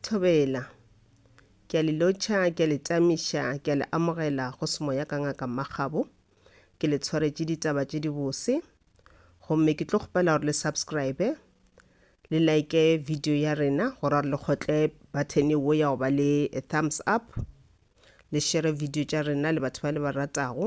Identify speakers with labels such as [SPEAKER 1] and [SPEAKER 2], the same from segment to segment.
[SPEAKER 1] Thobela. Ke a le lotšha, ke a le tamiša, ke a le amogela go semoya ka ngaka Makgabo. Ke le tshwaretše ditaba tše dibose. Gomme ke tlo kgopela gore le subscribe, le like video ya rena, gore gore le kgotle button wo ya go ba le thumbs up, le share video tša rena le batho ba le ba ratago.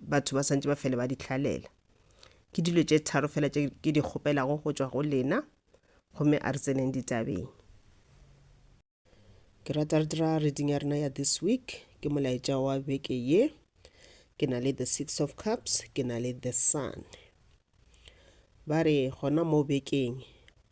[SPEAKER 1] batho ba santse ba fele ba di hlalela ke dilo tše tharo fela tše ke di kgopelago go tšwa go lena gomme a re tseneng ditabeng ke rata re dira reading ya rena ya this week ke molaetša wa beke ye ke na le the six of cups ke na le the sun ba re gona mo bekeng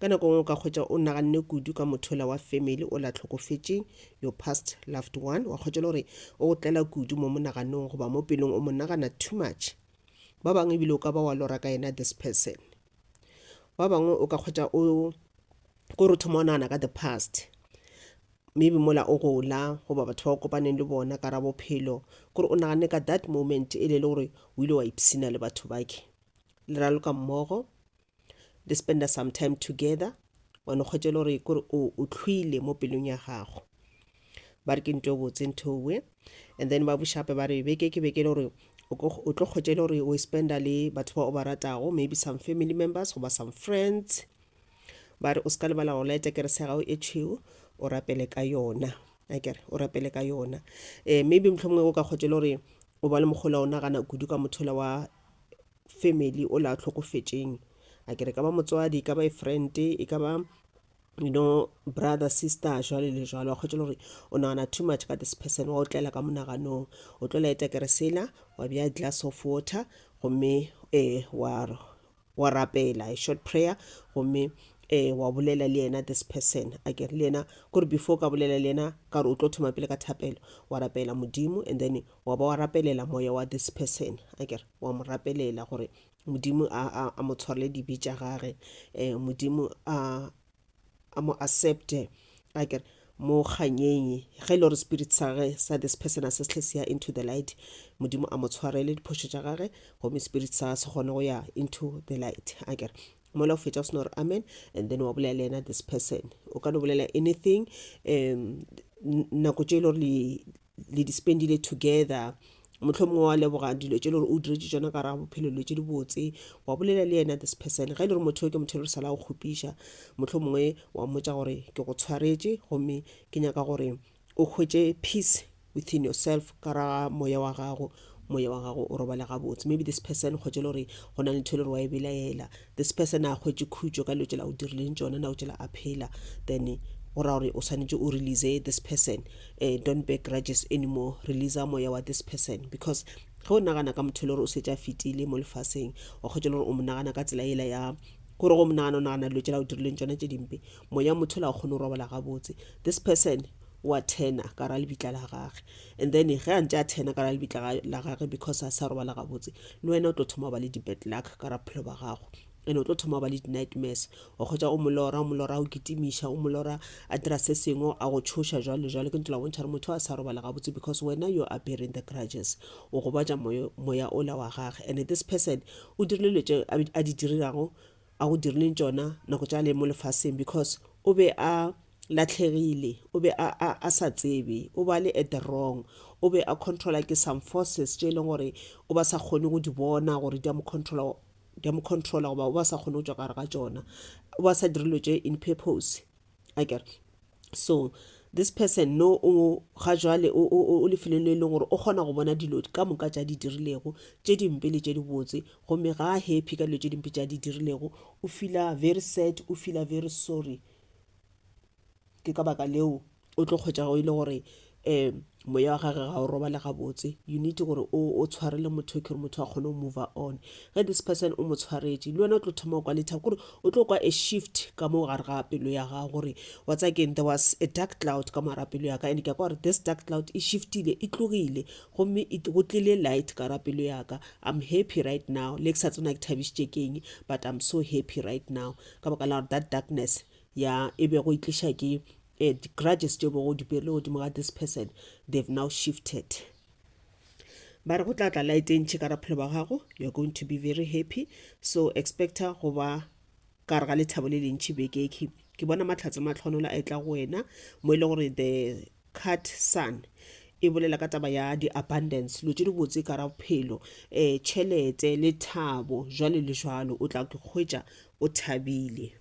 [SPEAKER 1] Ka nako nngwe o ka hwetša o naganne kudu ka mothola wa family o la hlokofetšeng, your past loved one. Wa hwetša le gore o go tlela kudu mo monaganong goba mo pelong o mo nagana too much. Ba bangwe ebile o ka ba wa lora ka yena this person. Ba bangwe o ka hwetša o ko re thoma o nagana ka the past maybe mola o gola goba batho ba o kopaneng le bona ka ra bophelo kore o naganne ka that moment e le le gore o ile wa ipsina le batho bake le raloka mmogo le spenda some time together wa no kgwetšele gore kore o o tlhwile mo pelong ya gago ba re ke nto e botse nthowe and then ba bušape ba re beke ke beke le gore o ko- o tlo kgwetšele gore o e spenda le batho ba o ba ratago maybe some family members goba some friends ba re o se ka lebala go laeta kerese ya gago e tšhweu o rapele ka yona akere o rapele ka yona um maybe mohlomongwe o ka kgwetšele gore o ba le mogola o nagana kudu ka mothola wa family o le a tlhokofetšeng a kere ka ba motswadi ka ba e friend e ka ba you know brother sister jwale le jwalo wa kgwetšela gore o nagana too much ka this person wa o tlela ka monaganong o tlo laeta kere sela wa bea glass of water gomme um wa rapela a short prayer gomme eh wa bolela le yena this person a ke le yena kore before ka bolela le yena ka re o tlo thoma pele ka thapelo wa rapela modimo and then wa ba wa rapelela moya wa this person a ke re wa mo rapelela gore modimo a, a, a mo tshwarele dibe tša gage um modimo a a mo accepte a kere mo kganyeng ge e le gore spirit sa ge sa this person a se sehle se ya into the light modimo a mo tshwarele diphošo tša gage gomme spirit sa se kgone go ya into the light a kere mola o fetša o sena gore amen and then wa bolela le yena this person o ka no bolela anything um nako tše e le gore le di spendile together mohlomongwe wa leboga dilo tše le gore o diretše tsona ka raga bophelo dilo tše di botse wa bolela le yena this person ge e le gore motho yo ke motho e le sala go kgopiša mohlomongwe wa mmotsa gore ke go tshwaretše gomme ke nyaka gore o hwetše peace within yourself ka raga moya wa gago moya wa gago o robale gabotse maybe this person kgotse le gore go na le ntho e le gore wa e belaela This person a hwetše khutšo ka dilo tšela o dirileng tšona nako tšela a phela then go ra gore o swanetše o release this person uh, don't bear grudges anymore release moya wa this person because ge o nagana ka motho e le gore o setse a fetile mo lefaseng wa kgwetša le gore o mo nagana ka tsela ela ya gore go monagana o nagana dilo tšela o dirileng tšona tše dimpe moya motho la o kgone go robala gabotse this person wa thena ka ra lebitla la gage and then ge a ntse a thena ka ra lebitla la gage because a sa robala gabotse le wena o tlo thoma ba le di-bad luck ka ra bophelo ba gago and o tlo thoma ba le di-nightmares o kgwetsa o molora o molora o kitimiša o molora a dira se sengwe a go tshoša jalo le jalo ke ntse la bontšha gore motho a sa robala gabotse because wena you are bearing the grudges o gobatša moya ola wa gage and this person o dirile letse a di dirirago a go dirileng tšona nako tša le mo lefaseng because o be a latlhegile o be a, a, a sa tsebe o ba le at the wrong o be a controla ke some forces tše e leng gore o ba sa kgone go di bona gore di a mo controla di a mo controla goba o ba sa kgone go tšwa gare ga tšona o ba sa dirilwe tše in purpose a kere so this person no o ga jwale o lefelong le e leng gore o kgona go bona dilo ka moka tša di dirilego tše dimpe le tše di botse gomme ga a happy ka dilo tše dimpe tša di dirilego o feela very sad o feela very sorry ke ka baka leo o tlo kgwetša go ile gore um moya wa gage ga o robale gabotse you need gore o tshware le motho ke gore motho a kgone go move on ge this person o mo tshwaretše le wena o tlo thoma go kwa lethabo kore o tlo kwa a shift ka mo gare ga pelo ya gago gore wa tsa keng there was a dark cloud ka mogara pelo ya ka and ke ya kwa gore this dark cloud e shiftile e tlogile gomme e go tlile light ka ra pelo ya ka i'm happy right now le ke sa tsena ke thabišitše keng but i'm so happy right now ka baka la gore that darkness ya e bego e tliša ke uh, grudges tše bogo di pele godimo ga this person they've now shifted ba re go tla tla light e ntšhe ka raphelo ba gago you're going to be very happy so expecta go ba ka re ga lethabo le lentšhi beke ke ke bona matlhatse matlhonola a etla go wena mo e le gore the cat sun e bolela ka taba ya di-abundance lo tse di botse ka ra bophelo um eh, tšhelete le thabo jwale le jwalo o tla ke kgwetša o thabile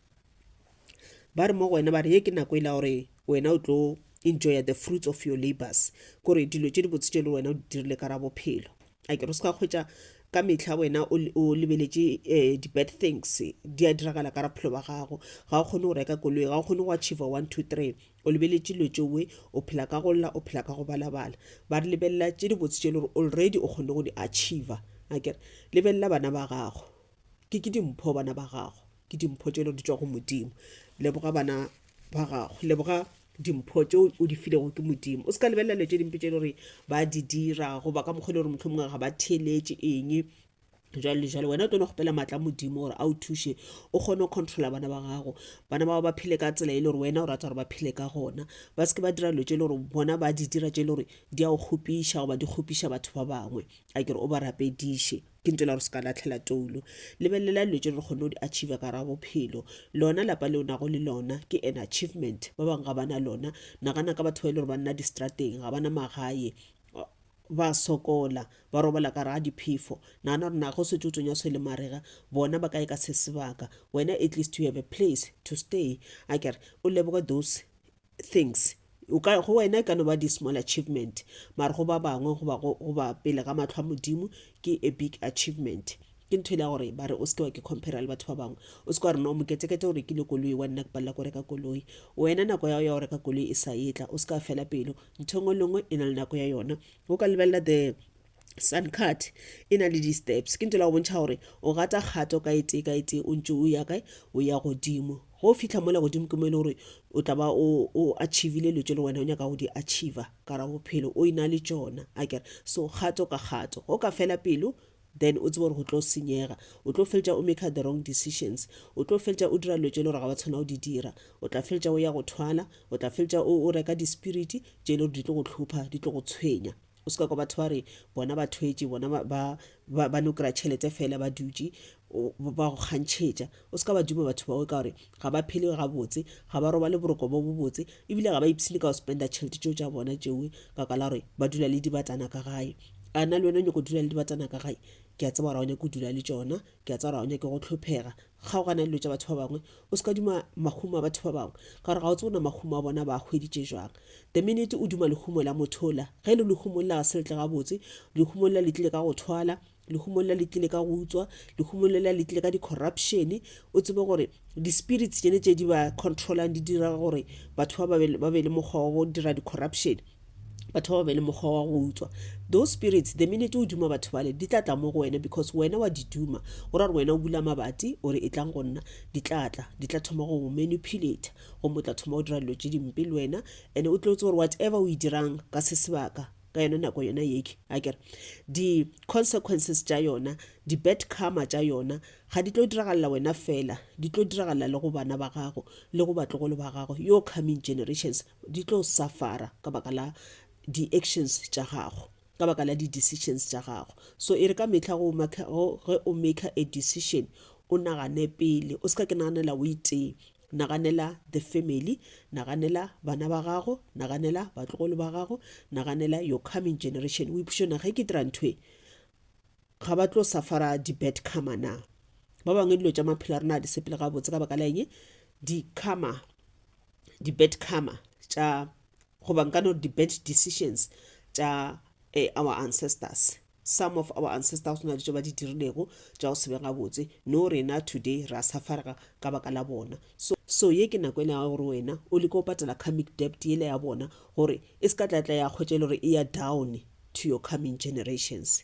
[SPEAKER 1] ba re mo go wena ba re ye ke nako e la gore wena o tlo enjoya the fruits of your labors kore dilo tše dibotse tše le wena o di dirile ka ra bophelo a ke re se ka kgwetsa ka metlha wena o lebeletše um eh, di-bad things di a diragala ka raphelo ba gago ga o kgone go reka koloi ga o kgone go achieve one two three o lebeletše dilo tšeoe o phela ka go lla o phela ka go balabala ba re lebelela tše dibotse tše e le gore already o kgone go di achieve a kere lebelela bana ba gago ke ke dimpho bana ba gago ke dimpho tšelo di tšwa go modimo leboga bana ba gago leboga dimpho tse o di filego ke modimo o se ka lebelela dilo tse dimpe tse e le gore ba di dira goba ka mokgwa e le gore motlho mongwe ga ba theeletse eng jalo le jalo wena o tlono kgopela maatla modimo gore a o thuše o kgone go controla bana ba gago bana bao ba phele ka tsela e le gore wena o rata gore ba phele ka gona ba seke ba dira dilo tse e le gore bona ba di dira tse e le gore di a go kgopiša goba di kgopiša batho ba bangwe a kere o ba rapediše ke ntela gore se ka latlhela toulo lebelelela dilo tse re kgone go di achieve ka ra bophelo lona lapa le o nago le lona ke an achievement ba bangwe ga bana lona nagana ka batho ba e le gore ba nna distrateng ga bana magae ba sokola ba robala ka raga diphefo nagana gore nago setse o tsonya se le marega bona ba kae ka se sebaka wena at least you have a place to stay a kere o leboge those things o ka go wena e ka no ba di small achievement mara go ba bangwe goba goba pele ga matlho a modimo ke a big achievement ke ntho ile gore ba re o seke wa ke compare le batho ba bangwe o seke wa re no moketekete o rekile koloi wa nna ke palela ko reka koloi wena nako ya ya go reka koloi e sa etla o seka fela pelo ntho e nngwe le nngwe e na le nako ya yona o ka lebelela the suncut e na le di-steps ke ntela go bontšha gore o gata kgato ka e tee ka e tee o ntse o ya kae o ya godimo go fitlha mola godimo ke mo e le gore o tla ba o achievile dilo tse le wena o nyaka go di achiever ka ra bophelo o ina le tsona a kere so kgato ka kgato go ka fela pelo then o tsebe gore go tlo senyega o tlo feletša o make the wrong decisions o tlo feletša o dira dilo tse le gore ga wa tshwana o di dira o tla feletša o ya go thwala o tla feletša o reka di-spirit tse le gore di tlo go tlhopha di tlo go tshwenya o se ka kwa batho ba re bona ba thwetše bona ba, ba, ba, ba no kry-a tšhelete fela ba dutše o- ba ba go kgantšhetša o se ka ba duma batho bao ka gore ga ba phele gabotse ga ba robale boroko bo bobotse ebile ga ba ipshine ka go spenda tšhelete tšeo tša bona tšewe ka ka la gore ba dula le dibatana ka gae a na le wena o nyako dula le dibatana ka gae ke a tseba gore ga o nyake go dula le tšona Ke a tseba gore ga o nyake go hlhophega. Kgaogana le dilo tša batho ba bangwe. O se ka duma mahumo a batho ba bangwe, ka gore ga o tsebe gore mahumo a bona ba a hweditše jwang. The minute o duma lehumo la motho ola, ge e le lehumo lela ga se letle gabotse, lehumo lela le tlile ka go thwala, lehumo lela le tlile ka go utswa, lehumo lela le tlile ka di-corruption, o tsebe gore di-spirits tšele tše di ba control-ang di dira gore batho ba ba be le mokgwa wa go dira di-corruption. batho ba ba be le mokgwa wa go utswa those spirits the minute o duma batho bale di tla tla mo go wena because wena wa di duma go ra gore wena o bula mabati o re e tlang go nna di tla tla di tla thoma go manipulate go motla thoma go dira dilo tse dimpe le wena and o tlotse gore whatever o e dirang ka se sebaka ka yona nako yona yeke a kere di-consequences tša yona di-bad karma tša yona ga di tlo diragalela wena fela di tlo diragalela le go bana ba gago le go batlogolo ba gago yo coming generations Di tlo suffer-a ka baka la di actions tša gago, ka baka la di decisions tša gago. So e re ka mehla go make, go, ge o maker a decision, o nagane pele, o se ka ke naganela o itee. Naganela the family, naganela bana ba gago, naganela batlogolo ba gago, naganela your coming generation. O ipuše, na ge ke dira ntho e, Ga ba tlo safara di-bad karma na? Ba bangwe dilo tša maphelo a rena a di sepele gabotse ka baka la eng? Di-karma, di-bad karma tša goba nka no di-bad decisions tša eh, our ancestors some of our ancestors go na ditso ba di dirilego tša go sebe gabotse no rena today ra safarega ka baka la bona so so ye ke nako ena ya gore wena o leke go patela comic dept ele ya bona gore e se ka tlatla ya kgwetša e le gore e ya down to your coming generations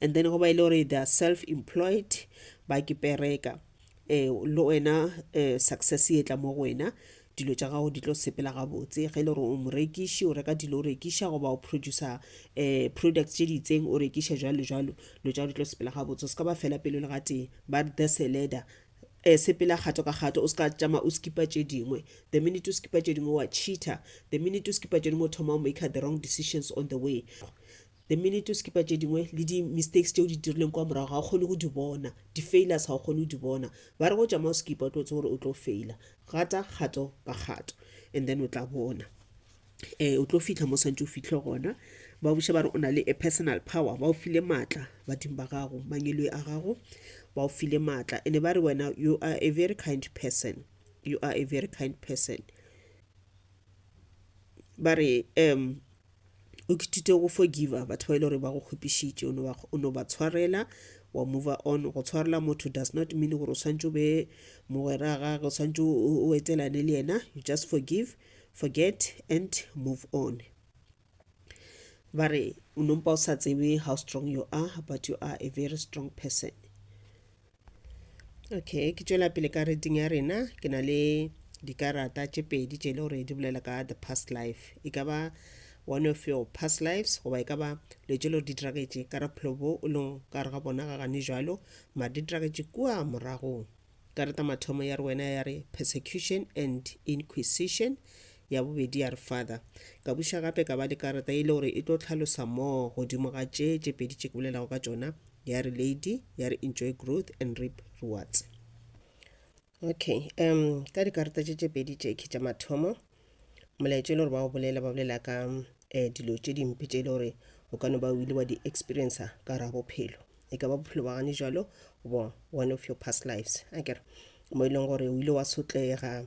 [SPEAKER 1] and then go ba e le gore they are self employed ba ke pereka um le wena um success e tla mo go wena dilo tša gago di tlo sepela gabotse ge e le gore o morekiši o reka dilo o rekiša goba o producer um product tše di itseng o rekiša jalo jalo dilo tša di tlo sepela gabotse o se ka ba fela pelo le ga tee ba the seleder um sepela kgato ka kgato o se ka tšama o skipa tše dingwe the minute o skipa tše dingwe wa cheater the minute o skipa tše dingwe o thoma o maker the wrong decisions on the way The minute o skipa tše dingwe le di mistakes tše o di dirileng kwa morago ga o kgone go di bona, di failures ga o kgone go di bona. Ba re go tšama o skipa o tlo tseba gore o tlo faila. Gata kgato ka kgato and then o tla bona um o tlo fihla mo swantše o fihle gona. Ba buša ba re o na le a personal power, ba o file maatla badimo ba gago, mangeloi a gago ba o file maatla. Ene ba re wena you are a very kind person, you are a very kind person. Ba re um o kithute go forgiva batho ba ile gore ba go kgwepišitše o no ba tshwarela wa move on go tshwarela motho does not mean gore o swantse o be mogwera gage o swantse o etelane le yena you just forgive forget and move on ba re o nompa o sa tsebe how strong you are but you are a very strong person okay ke tšwela pele ka reading ya rena ke na le dikarata tše pedi tše e le gore di bolela ka the past life e ka ba one of your past lives goba e ka ba le tše le gore di diragetše ka ra bophelo bo o leng ka re ga bona ga gane jalo mare di diragetše kua moragong karata mathomo ya re wena ya re persecution and inquisition ya bobedi ya re father ka buša gape ka ba le karata e le gore e tlo tlhalosa moo godimo ga tše tše pedi tše ke bolelago ka tšona ya re lady ya re enjoy growth and reap rewards okay um ka dikarata tše tše pedi tše ke tša mathomo molaetša e le gore ba o bolela ba bolela ka um dilo tše dimpe tše e le gore o ka no ba o ile wa di experiencer ka ra bophelo e ka ba bophelo ba gane jalo goba one of your past lives a kere mo e leng gore o ile wa sotlega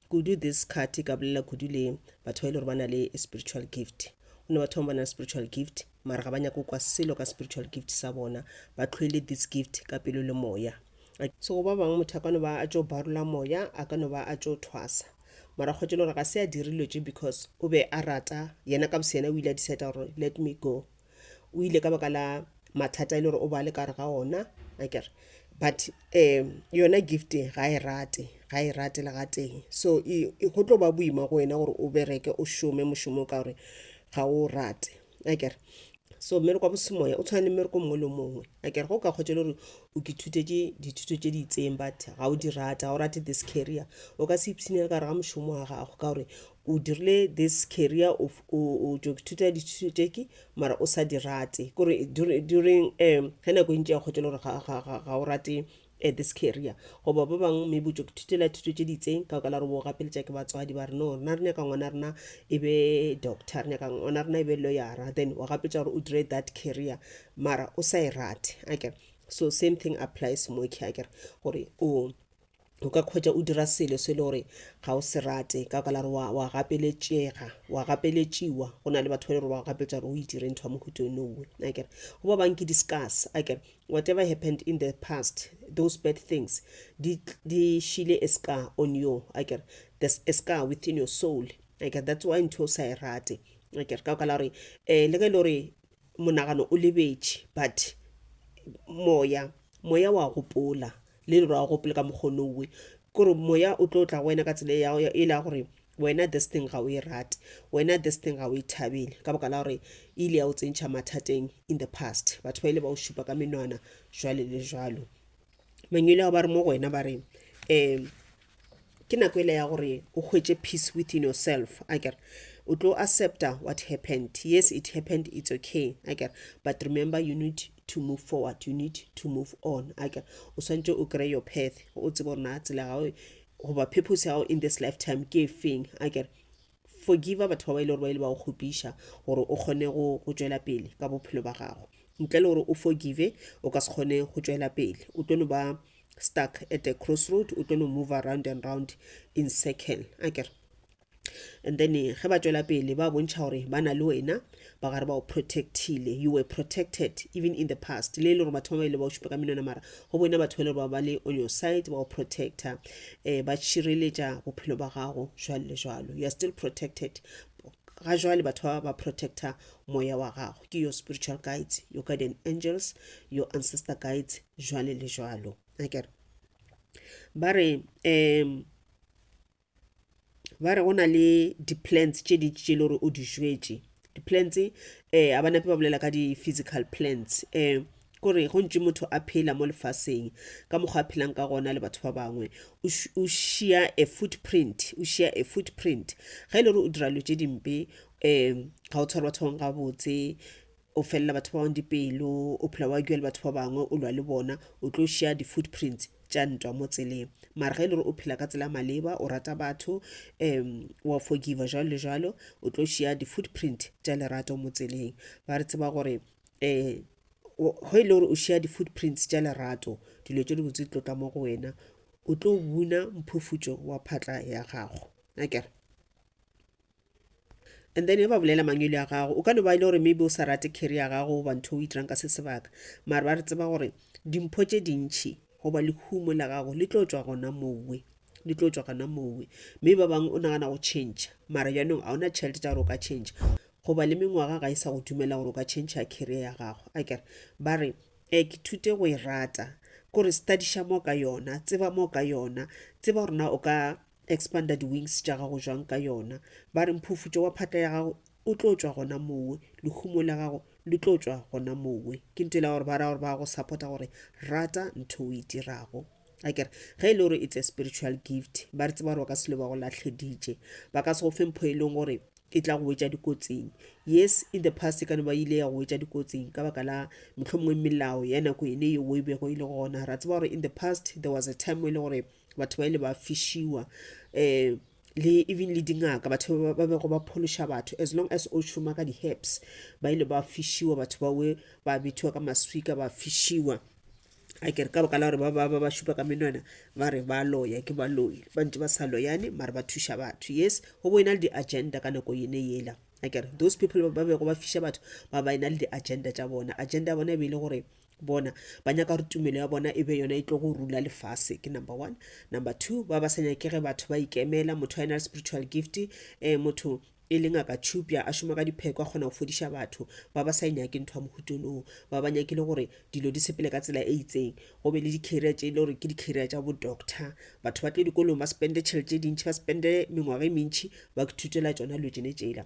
[SPEAKER 1] Kudu this card e ka bolela kudu le batho ba e le gore ba na le spiritual gift. Go na batho bangwe ba na le spiritual gift mara ga ba nyake go kwa selo ka spiritual gift sa bona, ba tlhoile this gift ka pelo le moya. A- So go ba bangwe motho a ka no ba a tšo barola moya, a ka no ba a tšo thwasa. Mara kgotse e le gore ga se a dire dilo tše because o be a rata, yena ka boseyena o ile a decida gore let me go. o ile ka baka la mathata e le gore o ba le ka re ga ona a kere but um yona gift ga e rate ga e rate le ga teng so e- e- go tlo ba boima go wena gore o bereke o šome mošomo o ka gore ga o rate a kere so mmereko wa bosemoya o tshwana le mmereko mongwe le mongwe a kere go ka kgotsa e le gore o ke thutetše dithuto tše di itseng but ga o di rate ga o rate this carrier o ka se ipshinele ka re ga mošomo wa gago ka gore o dirile this career of o o tšo ithuta dithuto tše ke mara o sa di rate kore during um ge nako e ntši ya kgotšela gore ga, ga, ga, ga o rate uh, this career goba ba bangwe maybe o tšo ithutela thuto tše ditseng ka ka la gore bo gapeletša ke batswadi ba re no rena re nyaka ngwana rena e be doctor re nyaka ngwana rena e be lawyera then wa gapeletša gore o dire that career mara o sa e rate ake so same thing applies mo ke akere gore o o ka kgwetša o dira selo se le gore ga o se rate ka baka la gore wa gapeletšega wa gapeletšiwa go na le batho ba le gore wa gapeletša gore o itire ntho ya mohuto nowe akere go ba bang ke discuss akere whatever happened in the past those bad things di šile a scar on you akere there's a scar within your soul akere that's why ntho o sa e rate akere ka baka la gore um eh, le ge e le gore monagano o lebetše but moya moya wa gopola le dirwago gopele ka mokgwa nowe kore moya o tlo tla go wena ka tsela e yago e la gore wena this thing ga o e rate wena this thing ga o e thabele ka boka la gore e ile ya o tsentšha mathateng in the past batho ba ile ba o šupa ka menwana jwale le jwalo mangwele ao ba re mo go wena ba re um ke nako ele ya gore o hwetše peace within yourself aker o tlo accepta what happened yes it happened it's okay aker but remember you need to move forward you need to move on aker o swantše o kry your path o tsebe gore na tsela gago goba purpose ya gago in this lifetime ke e feng aker Forgiva batho ba ba e le gore ba ile ba go kgopiša gore o kgone go go tšwela pele ka bophelo ba gago. Ntle le gore o forgive o ka se kgone go tšwela pele. O tlo no ba stuck at a crossroad, o tlo no move around and round in circle. A kere and then ge ba tšwela pele ba bontšha gore ba na le wena ba gare ba o protectile you were protected even in the past le e le gore batho ba ba ile ba o šupa ka menwana mara go boena batho ba e le gore ba ba le on your side ba o protecta um eh, ba šireletša bophelo ba gago jwalo le jwalo you are still protected ga jwale batho ba ba protecta moya wa gago ke your spiritual guides your guardian angels your ancestor guides jwale le jwalo akere ba re um ba re go na le di-plans tše dintši tše e le gore o di jwetše di-plans um eh, a ba nape ba bolela ka di-physical plans um kore go ntše motho a phela mo lefaseng ka mokgwa a phelang ka gona le batho ba bangwe o šia a footprint o šia a footprint ga e le gore o dira lo tše dimpe um ga o tshware batho bangwe gabotse o felela batho ba bangwe dipelo o phela wa jwa le batho ba bangwe o lwa le bona o tlo share di-footprints tša ntwa mo tseleng mara ge e le gore o phela ka tsela maleba o rata batho um wa forgiva jalo le jalo o tlo share di-footprint tša lerato mo tseleng ba re tseba gore um go e le gore o share di-footprints tša lerato dilo tše dibotse di tlotla mo go wena o tlo buna mphufutšo wa phatla ya gago akere And then e ba bolela mangwele a gago o ka no ba e le gore maybe o sa rate carry ya gago goba ntho o itirang ka se sebaka mare ba re tseba gore dimpho tše dintšhi goba lehumo la gago le tlo tswa gona mowe le tlo tswa gona mowe mme ba bangwe o nagana go change mara jaanong ga ona tšhelete tsa gore o ka change goba le mengwaga ga e sa go dumela gore o ka change ya carrier ya gago a kere ba re um ke thute go e rata kore studiša mo ka yona tseba mo ka yona tseba gorena o ka Expanda di-wings tša gago jwang ka yona. Ba re mphufutšo wa phatla ya gago o tlo tšwa gona mowe, lehumo la gago le tlo tšwa gona mowe. Ke ntho e la gore ba ra gore ba go support-a gore rata ntho o e dirago. A kere ge e le gore it's a spiritual gift, ba re tseba gore ba ka selo ba go latlheditše. Ba ka se go fe mpho e leng gore e tla go wetša dikotsing. Yes, in the past e ka no ba ile ya go wetša dikotsing ka baka la mohlomongwe melao ya nako ene eo o e bego e le gona. Ra tseba gore in the past there was a time e le gore batho ba ile ba fišiwa um le even le dingaka batho ba bego ba phološa batho as long as o šoma ka di-herbs ba ile ba fišiwa batho bawe ba bithiwa ka maswika ba fišiwa a kere ka boka la gore ba ba ba šupa ka menwana ba re ba loya ke baloi ba ntse ba sa loyane mare ba thuša batho yes go bo e na le di-agenda ka nako yene yela a kere those people ba bego ba fiša batho ba ba e na le di-agenda tša bona agenda ya bona e be e le gore bona ba nyaka gore tumelo ya bona e be yona e tlo go rula lefase ke number one number two ba ba sa nyakege batho ba ikemela motho a ena le spiritual gift um motho e leng a ka tšhupja a šoma ka dipheko a kgona go fodiša batho ba ba sa e nyake ntho ya mohutolong ba ba nyakile gore dilo di sepele ka tsela e itseng go be le di-carrier tše e le gore ke di-carrier tša bo-doctor batho ba tle dikolong ba spende tšhelete tše dintšhi ba spende mengwaga e mentšhi ba thutela tsona dilo tsene tsela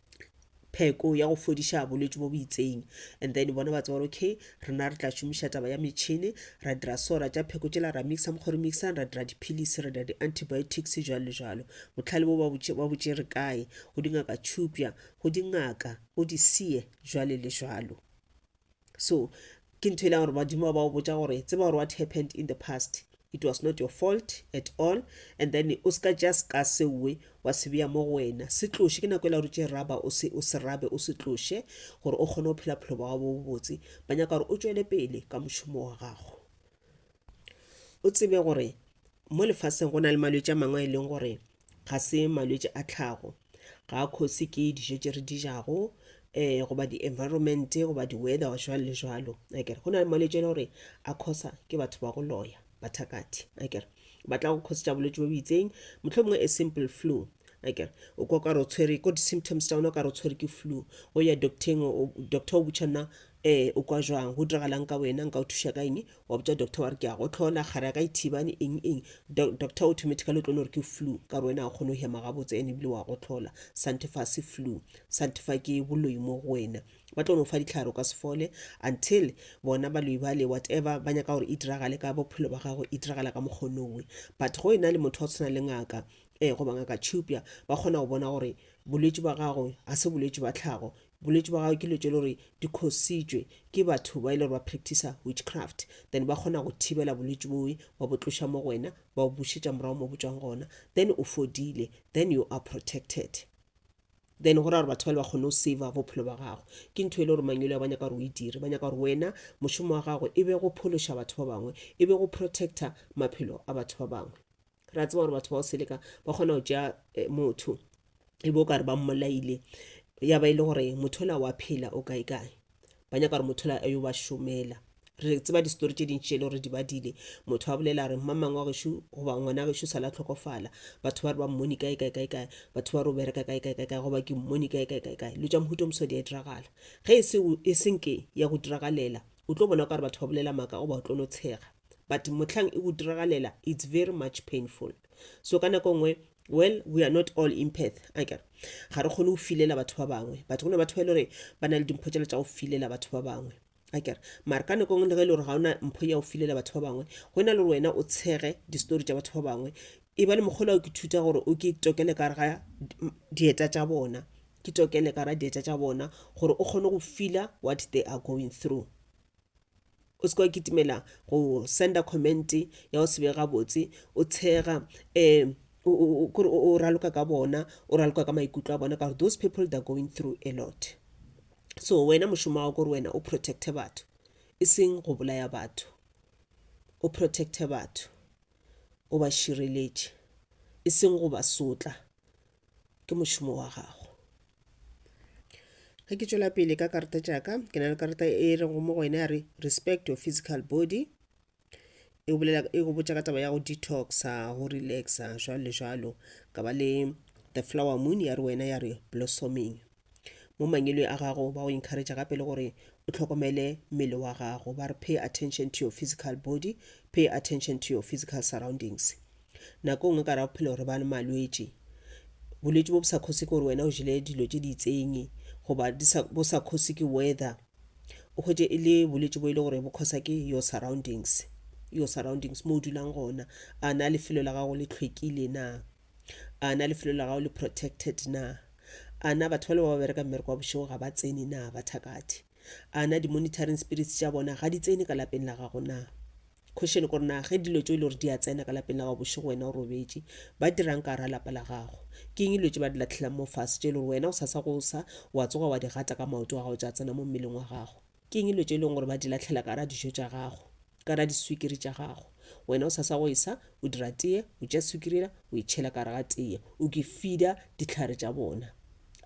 [SPEAKER 1] pheko ya go fodiša bolwetši bo bo itseng and then bona ba tseba gore okay rena re tla šomiša taba ya metšhini ra dira so ra tša pheko tšela ra mixa mokgwa re mixang ra dira diphilisi ra dira di-antibiotics jalo le jalo botlhale bo ba botšere kae go dingaka tšhupja go dingaka go disie jwale le jwalo so ke ntho e leng gore badimo ba o botsa gore tseba gore what happened in the past it was not your fault at all and then o ska just ka sewe wa se beya mo go wena se tloše ke nako e la gore tše raba o se o se rabe o se tloše gore o kgone go phela phelo ba gago bo bobotse ba nyaka gore o tšwele pele ka mošomo wa gago o tsebe gore mo lefaseng go na le malwetši a mangwe a e leng gore ga se malwetši a tlhago ga a khosi ke dijo tše re di jago um goba di-environment goba di-weather jwalo le jwalo akere go na le malwetši a e le gore a khosa ke batho ba go loya bathakati akere ba tla go khosetša bolwetši bo bo itseng motlho mongwe a simple flu akere o ka kare o tshwere ko di-symptoms tša ona o kare o tshwere ke flu o ya docteng doctor o botšha nna Ee, o kwa jwang? Go diragalang ka wena? Nka o thuša ka eng? Wa botša doctor wa re ke a gohlola, kgare ya ka e thibane, eng eng. Doc, doctor o thomete ka letlole gore ke flu, ka re wena ga o kgone go hema gabotse ene ebile wa gohlola. Santefa se flu. Santefa ke boloi mo go wena. Ba tlo no fa dihlare, o ka se fole until bona baloi bale whatever ba nyaka gore e diragale ka bophelo ba gago, e diragala ka mokgwa o nowe. But go e na le motho wa tshwana le ngaka, eh, goba ngaka Chupya, ba kgona go bona gore bolwetši ba gago ga se bolwetši ba tlhago, bolwetši bwa gagwe ke lo tše le gore di khositšwe ke batho ba e le gore ba practicer witchcraft then ba kgona go thibela bolwetši boe ba bo tloša mo go wena ba o bušetša morago mo botswang gona then o fodile then you are protected then go ra gore batho ba le ba kgone go sava bophelo ba gago ke ntho e le gore mangwele ba nyaka gore o e dire ba nyaka gore wena mošomo wa gago e be go phološa batho ba bangwe e be go protector maphelo a batho ba bangwe ra tseba gore batho ba go seleka ba kgona go tšea eh, motho e be o kare ba mmolaile ya ba e le gore motho ola wa phela o kae kae ba nyaka gore motho ola a yo ba šomela re tseba disetori tše dintši e le gore di badile motho a bolela re mma mangwe wa gešo goba ngwana gešo sa la tlhokofala batho ba re ba mmone kae kae kae kae batho ba re o bereka kae kae kae kae goba ke mmone kae kae kae kae lo tša mohuto moso di a diragala ge e se e senke ya go diragalela o tlo bona o ka re batho ba bolela maaka goba o tlo no tshega but mohlang e go diragalela it's very much painful so ka nako nngwe well we are not all empath a kere ga re kgone go filela batho ba bangwe but go na batho ba e le gore ba na le dimpho tšela tša go filela batho ba bangwe a kere mare ka nako nngwe le ge e le gore ga ona mpho ya go filela batho ba bangwe go na le gore wena o tshege distory tša batho ba bangwe e ba le mokgolo ke thuta gore o ke tokele ka ga dieta tša bona ke tokele ka ga dieta tša bona gore o kgone go fila what they are going through o se ka wa kitimela go senda comment ya go sebe gabotse o tshega um kore o raloka ka bona o raloka ka maikutlo a bona ka gore those people they're going through a lot so wena mošomo wa gore wena o protecte batho e seng go bolaya batho o protecte batho o ba šireletše e seng go ba sotla ke mošomo wa gago ge ke tšwela pele ka karata tšaka ke na le karata e re go mo go ene a re respect your physical body e go botša ka taba ya go detoxa go relaxa jalo le jalo ka ba le the flower moon ya re wena ya re blossoming mo mangwelwe a gago ba go encourage gape le gore o tlhokomele mmele wa gago ba re pay attention to your physical body pay attention to your physical surroundings nako nngwe ka ra bophelo re ba le malwetši bolwetši bo bo sa kgosi ke gore wena o jele dilo tše di itseng goba bo sa kgosi ke weather o hwetše e le bolwetši bo e le gore bo kgosa ke your surroundings your surroundings mo o dulang gona a na lefelo la gago le tlhwekile na A na lefelo la gago le protected na? A na batho ba le ba ba bereka mmereko wa bošego ga ba tsene na ba thakathe? A na di-monitoring spirits tša bona ga di tsene ka lapeng la gago na? Question kore na ge dilo tšo e le gore di a tsena ka lapeng la gago bošego wena o robetše ba dirang ka ra lapa la gago ke eng dilo tše ba di latlhelang mo fase tše e le gore wena o sasa go sa wa tsoga wa di gata ka maoto wa gago tša tsena mo mmeleng wa gago Ke eng dilo tše e leng gore ba di lahlela ka ra dijo tša gago ka ra diswikiri tša gago wena o sa sa go esa o dira teye o tša swikirela o e tšhela ka ra ga teye o ke fida ditlhare tša bona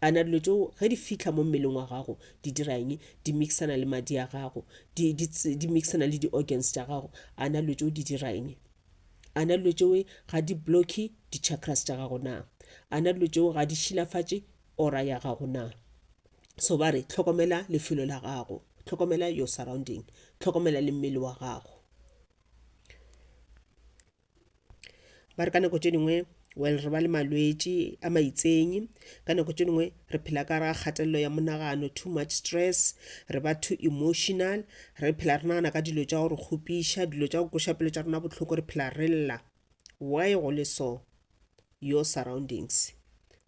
[SPEAKER 1] a na dilo tšeo ge di fitlha mo mmeleng wa gago di dira eng di mixana le madi a gago di, di, di mixana le di-organs tša gago a na dilo tšeo di dira eng a na dilo tšeo ga di blocke di-chakras tša gago na a na dilo tšeo ga di šilafatše ora ya gago na so ba re tlhokomela lefelo la gago tlhokomela your surrounding tlhokomela le mmele wa gago ba re ka nako tše dingwe well re ba le malwetši a maitsenyi ka nako tše dingwe re phela ka ra kgatelelo ya monagano too much stress re ba too emotional re phela re nagana ka dilo tša go re kgopiša dilo tša go koša pelo tša rona bohloko re phela re lla why go le so your surroundings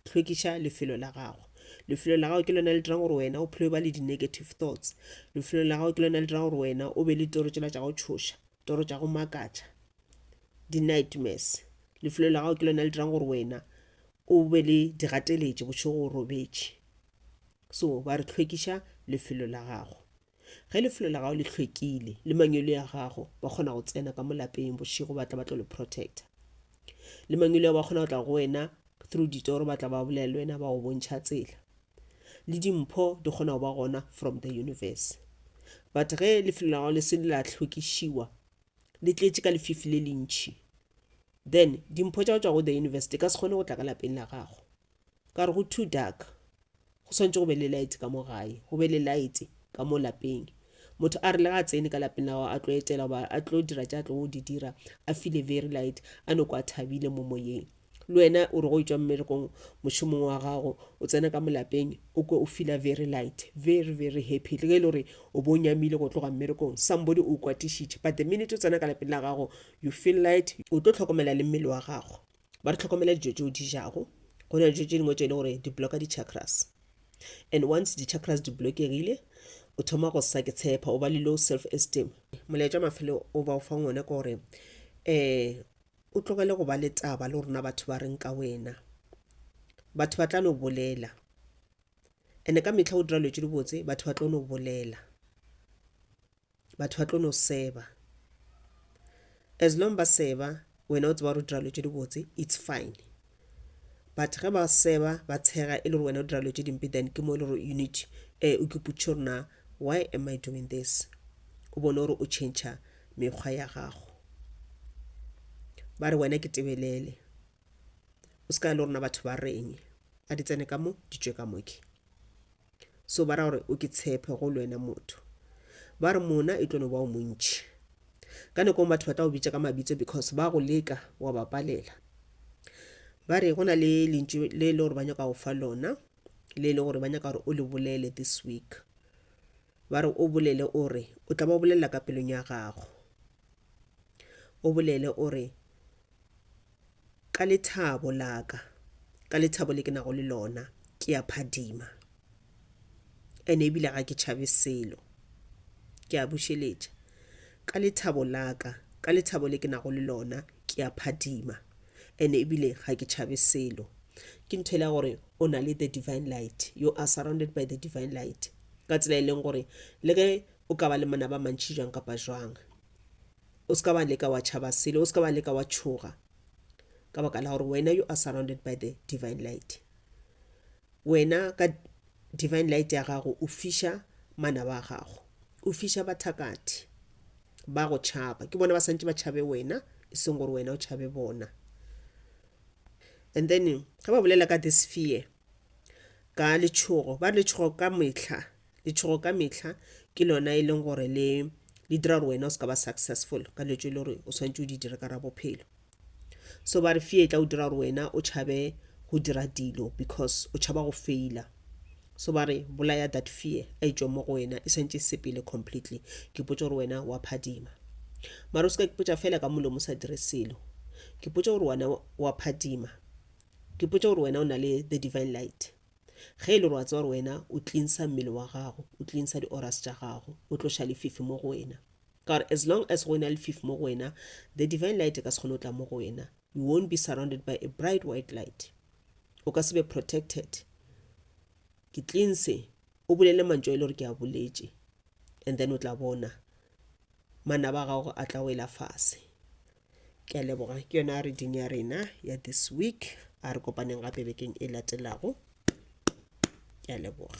[SPEAKER 1] hlwekiša lefelo la gago lefelo la gago ke lona le dirang gore wena o phele ba le di-negative thoughts lefelo la gago ke lona le dirang gore wena o be le toro tsela tša go tšhoša toro tša go makatša di-nightmares lefelo la gago ke lona le dirang gore wena o be le digateletše bošego o robetše so ba re hlwekiša lefelo la gago Ge lefelo la gago le hlwekile, le mangwele ya gago ba kgona go tsena ka mo lapeng bošego ba tla ba tlo le protecta. Le mangwele ya ba kgona go tla go wena through ditoro ba tla ba bolela le wena ba go bontšha tsela. Le dimpho di kgona go ba gona from the universe. But ge lefelo la gago le se le la hlwekišiwa, le tletše ka lefifi le lentšhi, then dimpho tša go tšwa go the universe di ka se kgone go tla ka lapeng la gago. ka re go too dark go swantse go be le light ka mo gae go be le light ka mo lapeng motho a re le ga a tsene ka lapeng la gago a tlo etela goba a tlo dira tša tlo go di dira a file very light a noko a thabile mo moyeng le wena o re go etswa mmerekong mošomong wa gago o tsena ka molapeng o kwe o fila very light very very happy le ge e le gore o bo nyamile go tloga mmerekong somebody o kwatišitše but the minute o tsena ka lapeng la gago you feel light o tlo tlhokomela le mmele wa gago ba re tlhokomela dijo tse o di jago go na le dijo tse dingwe tse e le gore di blocka di-chakras and once di-chakras di blockegile o thoma go sa ke tshepa o ba le low self esteem molaetša mafelo o ba o fang one ke gore um o tlogele go ba le taba le rona batho ba reng ka wena batho ba tla no bolela and-e ka metlha o dira letse dibotse batho ba tlo no bolela batho ba tlo no seba as long ba seba wena o tseba gore o dira dilo tse dibotse it's fine but ge ba seba ba tshega e le gore wena o dira dilo tse dimpe then ke mo e le gore you need um o keputše gore na why am i doing this o bone gore o change mekgwa ya gago ba re wena ke tebelele o se ka le rona batho ba reng a di tsene ka mo di tšwe ka moke so ba ra gore o ke tshepe go le wena motho ba re mona e tlo no ba o montši ka nekong batho ba tla go bitša ka mabitso because ba go leka wa ba palela ba re go na le lentšu le e le gore ba nyaka go fa lona le e le gore ba nyaka gore o le bolele this week ba re o bolele o re o tla ba o bolelela ka pelong ya gago o bolele o re ka lethabo la ka, ka lethabo le ke nago le lona, ke a phadima. Ene ebile ga ke tšhabe selo. Ke a bušeletša. Ka lethabo la ka, ka lethabo le ke nago le lona, ke a phadima. Ene ebile ga ke tšhabe selo. Ke ntho ela gore o na le the divine light. You are surrounded by the divine light. Ka tsela e leng gore le ge o ka ba le manaba a mantši jwang kapa jwang, O se ka wa leka wa tšhaba selo, o se ka wa leka wa tšhoga, ka baka la gore wena you are surrounded by the divine light. Wena ka divine light ya gago o fiša manaba a gago, o fiša bathakathi ba go tšhaba. Ke bona ba santse ba tšhabe wena, e seng gore wena o tšhabe bona. And then ge ba bolela ka this fear, ka letšhogo, ba re letšhogo ka metlha Letšhogo ka mehla ke lona e leng gore le le dira gore wena o se ka ba successful ka dilo tse e le gore o swanetše o di dire ka ra bophelo so ba re fear e tla o dira gore wena o tšhabe go dira dilo because o tšhaba go faila so ba re bolaya that fear a e mo go wena e santše sepele completely ke potse gore wena wa phadima mara o se ka ke potsa fela ka molomo o sa dire selo ke potse gore wena wa phadima ke potse gore wena o na le the divine light Ge e le gore wa tseba gore wena o tlinsa mmele wa gago, o tlinsa di-oras tša gago, o tloša lefifi mo go wena. Ka gore as long as go ena lefifi mo go wena, the divine light e ka se kgone go tla mo go wena. You won't be surrounded by a bright white light. O ka se be protected. Ke tlinse, o bolele mantšo e le gore ke a boletše, and then o tla bona manaba a gago a tla wela fase. ke a leboga ke yona reading ya rena ya this week a re kopaneng gape bekeng e latelago ke a leboga